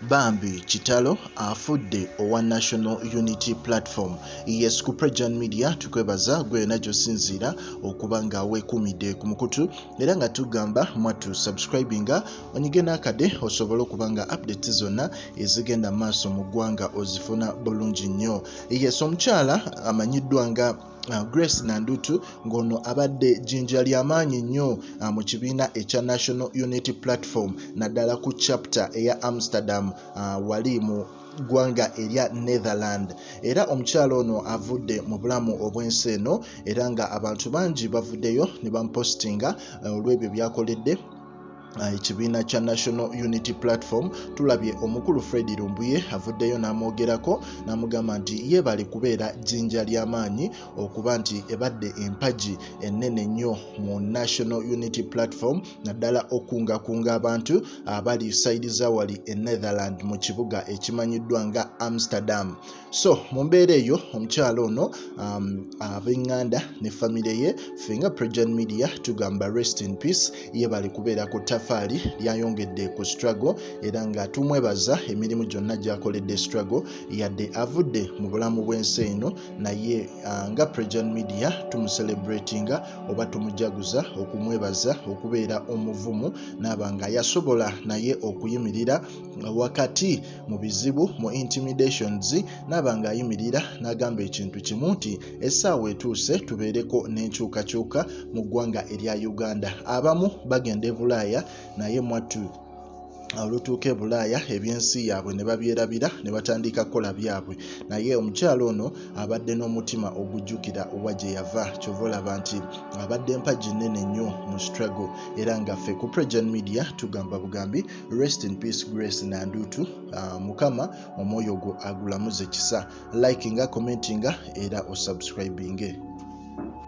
Bambi Kitalo afudde owa National Unity Platform. Yes, ku Prejan Media tukwebaza gwe yona gyosinziira okuba nga wekumidde ku mukutu era nga tugamba mwattu subscribinga onyige n'akade osobole okuba nga updates zonna ezigenda maaso mu ggwanga ozifuna bulungi nnyo. Yes, omukyala amanyiddwa nga Uh, grace nandutu ng'ono abadde jjinja ly'amaanyi nnyo uh, mu kibiina ekya national unity platform naddala ku chapter eya amsterdam uh, wali mu ggwanga erya netherland era omukyalo ono avudde mu bulamu obw'ensi eno era nga abantu bangi bavuddeyo ne bamupositinga olw'ebyo byakoledde Eh, ekibiina kya national unity platform tulabye omukulu fred lumbuye avuddeyo n'amwogerako n'amugamba nti ye bali kubeera jjinja ly'amaanyi okuba nti ebadde empagi ennene nnyo mu national unity platform naddala okungakunga abantu abali saidi zawali e netherland mu kibuga ekimanyiddwa nga amsterdam so mu mbeera eyo omukyala ono um, abenganda ne famire ye fenga prejan media tugamba rest in peace ye bali kubeera ku tafaali lyayongedde ku struggle era nga tumwebaza emirimu gyonna gyakoledde struggle yadde avudde mu bulamu bw'ensi eno naye uh, nga prejan media tumuselebratinga oba tumujaguza okumwebaza okubeera omuvumu naaba nga yasobola naye okuyimirira wakati mu bizibu mu intimidations naaba ng'ayimirira n'agamba ekintu kimu nti essaawa etuuse tubeereko n'enkyukakyuka mu ggwanga erya uganda abamu bagenda e bulaaya naye mwattu olutuuka e bulaaya ebyensi yaabwe ne babyerabira ne batandika kukola byabwe naye omukyalo ono abadde n'omutima ogujjukira owa gye yava kyova olaba nti abadde mpagi nnene nnyo mu strago era ngaffe ku pregen media tugamba bugambi rest in peace grace nandutu uh, mukama omwoyo gwo agulamuze kisa likinga commentinga era osubscribinge